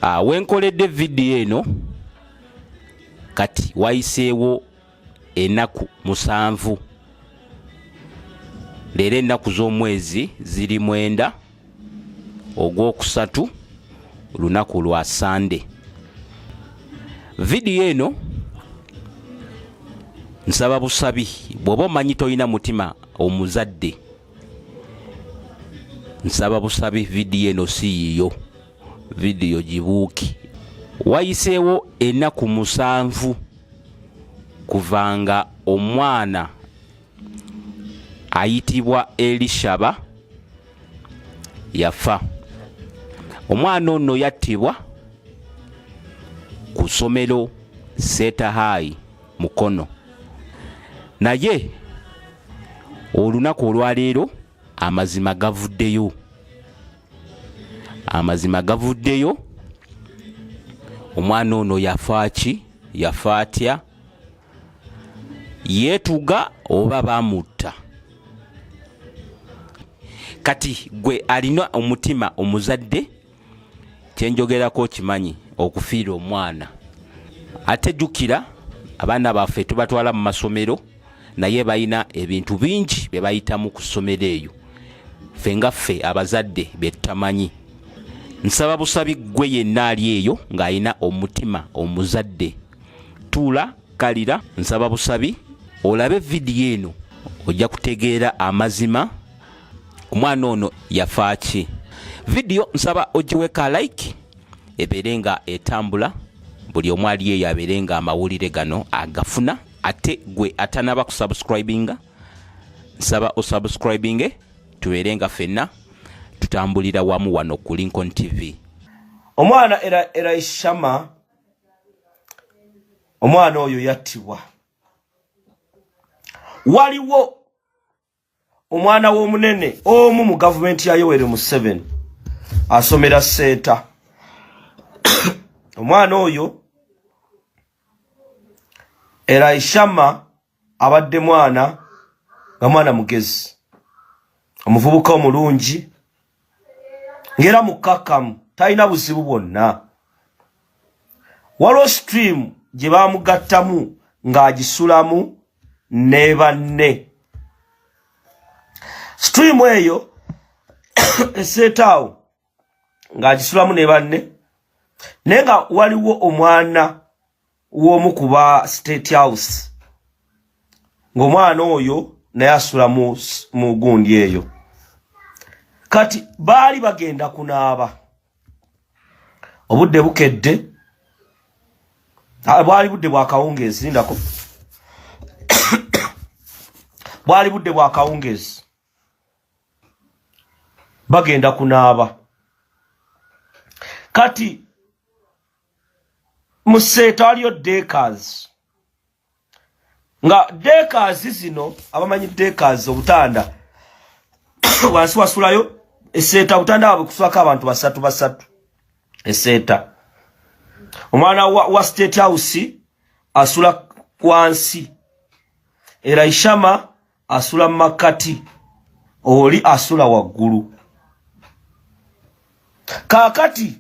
Ah, wenkoledde vidiyo eno kati wayiseewo enaku musanvu leero ennaku z'omwezi ziri mwenda ogwokusatu lunaku lwa sande vidiyo eno nsaba busabi bw'oba omanyi tolina mutima omuzadde nsaba busabi vidiyo eno si yiyo vidiyo gibuuki wayiseewo ennaku musanvu kuva nga omwana ayitibwa elishaba yafa omwana ono yattibwa ku ssomero setahayi mukono naye olunaku olwaleero amazima gavuddeyo amazima gavuddeyo omwana ono yafa ki yafa atya yeetuga oba bamutta kati gwe alina omutima omuzadde kyenjogerako okimanyi okufiira omwana ate jukira abaana baffe tubatwala mu masomero naye balina ebintu bingi bye bayitamu ku ssomero eyo ffe nga ffe abazadde bye tutamanyi nsaba busabi ggwe yenna ali eyo ng'alina omutima omuzadde tuula kalira nsaba busabi olabe vidiyo eno ojja kutegeera amazima omwana ono yafaaki vidiyo nsaba ogiweka like ebeere nga etambula buli omu ali eyo abeere nga amawulire gano agafuna ate gwe atanaba kusubscribinga nsaba osubscribinge tubeere nga fenna tutambulira wamu wano ku lincoln tv omwana eraishama omwana oyo yattibwa waliwo omwana w'omunene omu mu gavumenti ya yoweri museveni asomera seeta omwana oyo eraishama abadde mwana nga mwana mugezi omuvubuka omulungi ngera mukkakkamu talina buzibu bwonna waliwo stream gye baamugattamu ng'agisulamu ne banne stream eyo eseetaawo ng'agisulamu ne banne naye nga waliwo omwana w'omu ku ba state house ng'omwana oyo naye asula mu gundi eyo kati baali bagenda kunaaba obudde bukedde ah, bwali budde bwakawungeezi lindako bwali budde bwakawungeezi bagenda kunaaba kati mu seeta waliyo dekas nga dekas zino abamanyi dekas obutanda wansi wasulayo eseeta obutanda wabwe kusulako abantu basatu basatu eseeta omwana wa, wa state house asula wansi era ishama asula makati oli asula waggulu kakati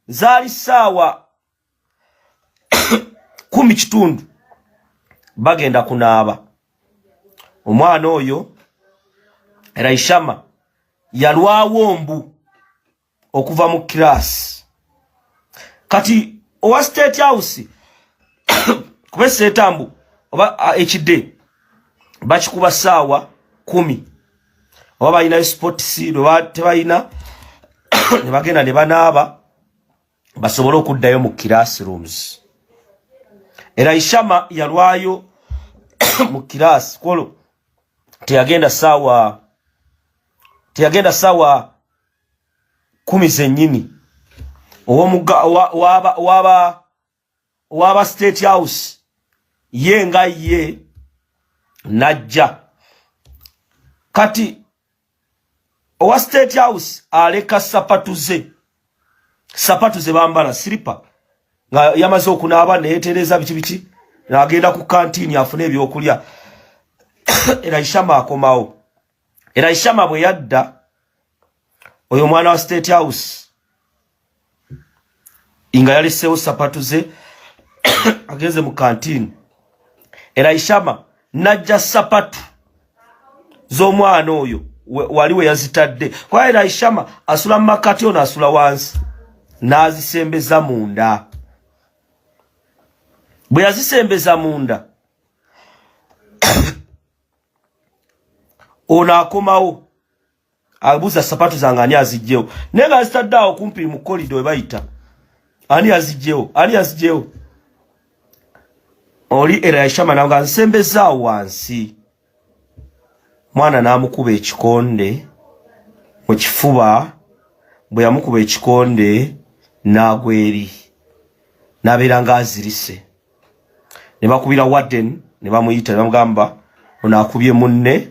zaali ssaawa kumi kitundu bagenda kunaaba omwana oyo raishama yalwawo mbu okuva mu kiraasi kati owa state house kuba eseetambu oba ekide bakikuba ssaawa kumi oba balinayo sports tebalina ne bagenda ne banaaba basobole okuddayo mu classrooms era ishama yalwayo mu kiraasi kwolwo teyagenda saawa teyagenda saawa kumi zennyini owaba owaba state house ye nga ye najja kati owa state house aleka sapatu ze sapatu ze bambala silipa nga yamaze okunaaba neyetereeza biki biki nagenda ku kantini afune ebyokulya era ishama akomawo era ishama bwe yadda oyo omwana wa state house nga yaleseewo sapatu ze agenze mu kantini era ishama najja sapatu z'omwana oyo wali we yazitadde kuba era ishama asula mu makati ono asula wansi n'azisembeza munda bwe yazisembeza munda ono akomawo abuza sapatu zange ani azijjewo naye nga zitadde awo kumpi mu kolido webayita ani azijjewo ani azijjewo oli era yashama nawe nga nsembezaawo wansi mwana n'amukuba ekikonde mu kifuba bwe yamukuba ekikonde n'agwa eri n'abeera ng'azirise ne bakubira warden ne bamuyita ne bamugamba ono akubye munne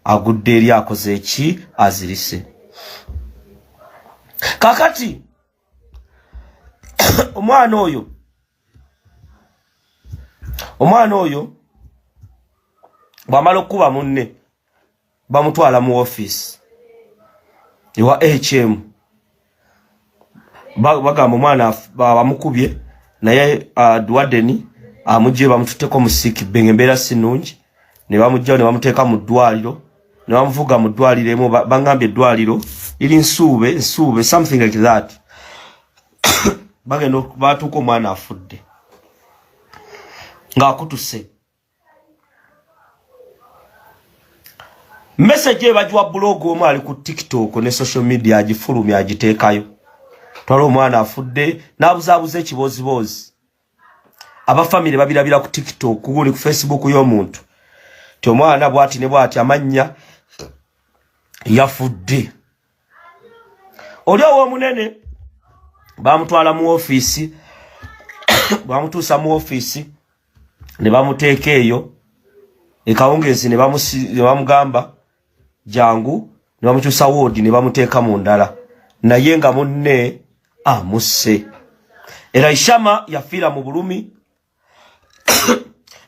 agudde eri akoze eki azirise kakati omwana oyo omwana oyo bwamala okukuba munne bamutwala mu office ewa hm bagamba omwana bamukubye naye uh, dwadeni amugye bamututeko musiki benge mbeera sinungi ne bamugyawo ne bamuteeka mu ddwaliro ne bamuvuga mu ddwaliro emu bangambye eddwaliro liri nsuube nsuube something like that bagenda batuuka omwana afudde ng'akutuse message ebagiwa blog omu ali ku tiktok ne social media agifulumya agiteekayo twala omwana afudde n'abuzaabuza ekibooziboozi abafamire babirabira ku tiktok guli ku facebook y'omuntu ti omwana bwati ne bwati amannya yafudde oli owomunene bamutwala mu ofiisi bamutuusa mu ofiisi ne bamuteeka eyo ekawungeezi ne bamugamba jangu ne bamukyusa woodi ne bamuteeka mu ndala naye nga munne amusse era ishama yafiira mu bulumi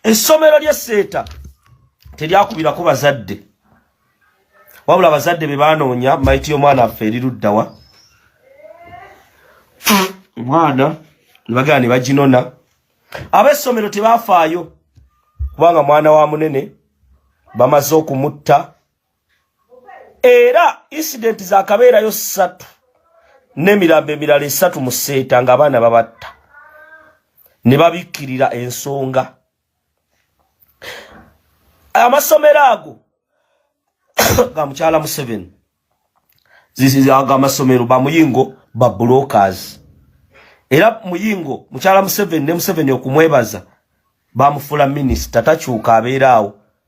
essomero ly'esseeta teryakubirako bazadde wabula abazadde be baanoonya mayiti y'omwana affe eriruddawa omwana ne bagala ne baginona ab'essomero tebaafaayo kubanga mwana wa munene bamaze okumutta era incident za kabeerayo ssatu n'emirambo emirala esatu mu seeta ng'abaana babatta ne babikkirira ensonga amasomero ago ga mukyala museveni ago amasomero bamuyingo ba brokers era muyingo mukyala museveni ne museveni okumwebaza bamufuula minisita takyuka abeeraawo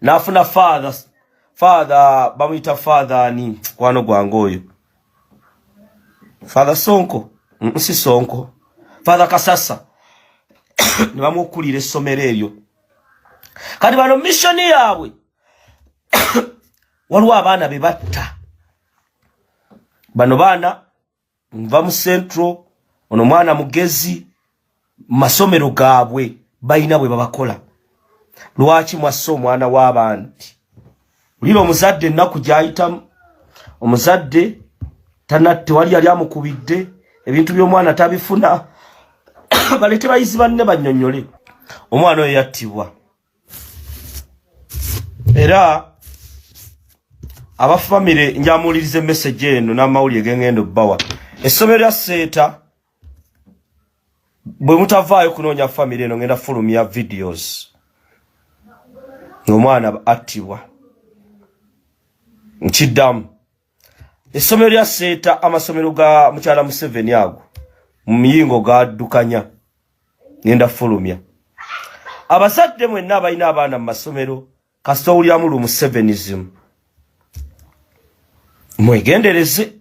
nafuna father father bamuyita father ani kwano gwange oyo father sonko nsi sonko father kasasa ne bamukulira essomero eryo kati bano missioni yaabwe waliwo abaana be batta bano baana nva mu central ono mwana mugezi masomero gaabwe balina bwe babakola lwaki mwassa omwana w'abandi ulira omuzadde ennaku gyayitamu omuzadde tana tewali yali amukubidde ebintu by'omwana tabifuna balete bayizi banne banyonyole omwana oyo yattibwa era abafamire njamuwuliriza emesegi eno n'amawulire gengenda obbawa essomero lya seeta bwe mutavaayo kunoonya famire eno ngenda fulumya videos ng'omwana attibwa nkiddamu essomero lya seeta amasomero ga mukyala museveni ago mu miyingo gaddukanya ngenda fulumya abazadde mwenna abalina abaana mu masomero kasita owulyamu lu musevenism mwegendereze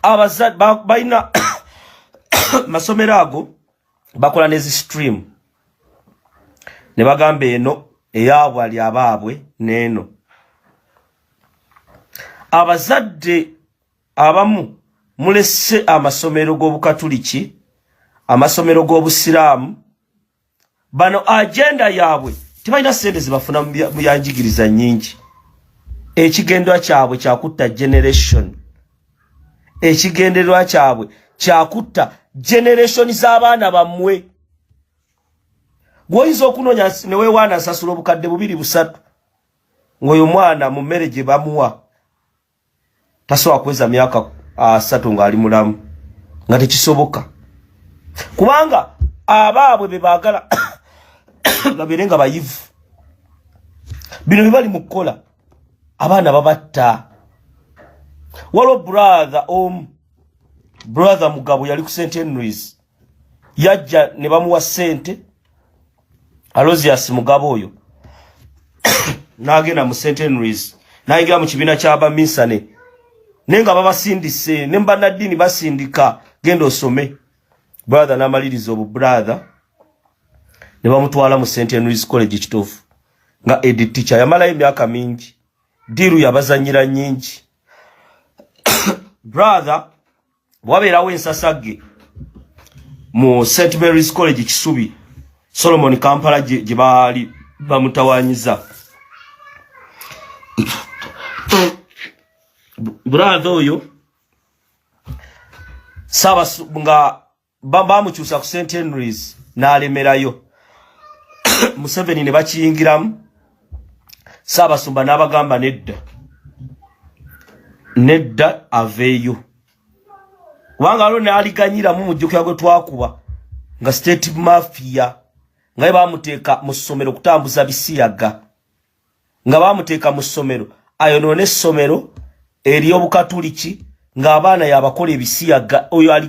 abazadde balina masomero ago bakola nezi stream ne bagamba eno eyaabwe ali abaabwe n'eno abazadde abamu mulese amasomero g'obukatuliki amasomero g'obusiraamu bano agenda yaabwe tebalina sente zebafuna mu yanjigiriza nyingi ekigendwa kyabwe kyakutta generation ekigendererwa kyabwe kyakutta generation z'abaana bammwe gwoyinza okunoonya newewaana asasula obukadde bubiri busatu ng'oyo mwana mu mmere gye bamuwa tasobola kuweza myaka asatu ng'ali mulamu nga tekisoboka kubanga abaabwe be baagala babeere nga bayivu bino bye bali mu kukola abaana babatta waliwo brother omu brother mugabo yali ku st henrys yajja ne bamuwa sente alozias mugabo oyo n'agenda mu st henrys n'ayingira mu kibiina ky'abaminsane naye nga babasindise ne mubannaddiini basindika genda osome brother n'amaliriza obu brother ne bamutwala mu st henrys college kituufu nga edi ticha yamalayo emyaka mingi diiru yabazanyira nyingi brother bwabeerawo ensasagge mu st mary's college kisubi solomon kampala gye baali bamutawanyiza brother oyo saba nga bamukyusa ku st henrys n'alemerayo museveni ne bakiyingiramu saabasumba n'abagamba nedda nedda aveeyo kubanga waliwo n'aliganyiramu mujjukira gwe twakuba nga state mafia nga ye bamuteeka mu ssomero okutambuza bisiyaga nga bamuteeka mu ssomero ayonoona essomero eri obukatuliki ng'abaana yabakola ebisiyaga oyo ali